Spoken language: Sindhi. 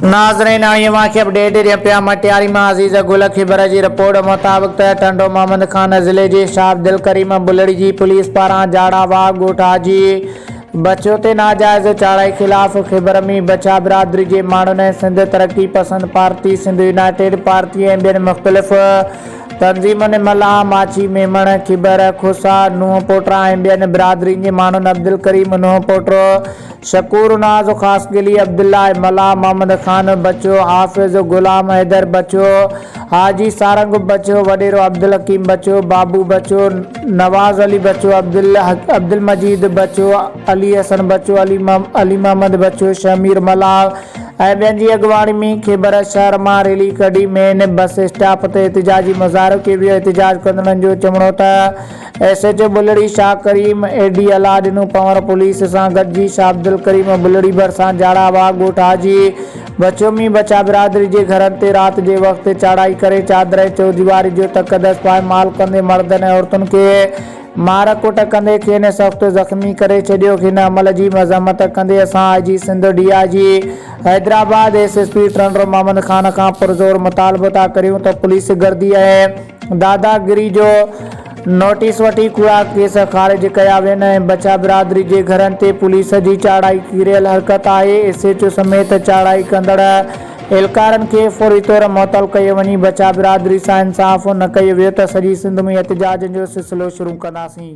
ناظرين اوهان کي اپڊيٽ ڏين پيا مٽياري مان عزيز گل کيبر جي رپورٽ مطابق ته ٽنڊو محمد خان ضلعي جي شاهبدل ڪريم بلڙي جي پوليس پاران جاڙا واهه ڳوٺ حاجي بڇو تي ناجائز چاڙهائي خلاف خيبر ۾ بڇا برادري جي ماڻهن ۽ Sindh Taraqqi Pasand party Sindh united party ۽ ٻين مختلف تنظيمن ملاح ماڇي ميمڻ خيبر کوسا نوحپوٽرا ۽ ٻين برادرين جي ماڻهن عبدالڪريم نوحپوٽرو شڪور ناز خاصخيلي، عبدالله ملاح، محمد خان بچو، حافظ غلام حيدر بچو، حاجي سارنگ بچو، وڏيرو عبدالحڪيم بچو، بابو بچو، نواز علي بچو، عبدالمجيد بچو، علي حسن بچو، علي محمد بچو، شهمير ملاح ۽ ٻين جي اڳواڻي ۾ خيبر شهر مان ريلي ڪڍي مين بس اسٽاپ تي احتجاجي مظاهرو ڪيو ويو، احتجاج ڪندڙن جو چوڻو ته. S H O Bulri Shah Karim, A D Allah Dino Panhwar police سان گڏجي شاهه عبدالڪريم بلڙي ڀرسان جاڙا باغ ڳوٺ حاجي بڇو ۾ بڇا برادري جي گهرن تي رات جي وقت چاڙهائي ڪري چادر ۽ چوديواري جو تقدس پائي مال ڪندي مردن ۽ عورتن کي مار ڪٽ ڪندي کين سخت زخمي ڪري ڇڏيو هن عمل جي مذمت ڪندي اسان I G Sindh D I G Hyderabad S S P Tando Muhammad Khan کان پرزور مطالبو ٿا ڪريون ته پوليس گردي ۽ داداگيري جو نوٽيس وٺي ڪوڙا ڪيس خارج ڪيا وين ۽ بڇا برادري جي گهرن تي پوليس جي چاڙهائي ڪيريل حرڪت آهي ايس ايچ او سميت چاڙهائي ڪندڙ اهلڪارن کي فوري طور معطل ڪيو وڃي بڇا برادري سان انصاف نه ڪيو ويو ته سڄي سنڌ ۾ احتجاجن جو سلسلو شروع ڪنداسين.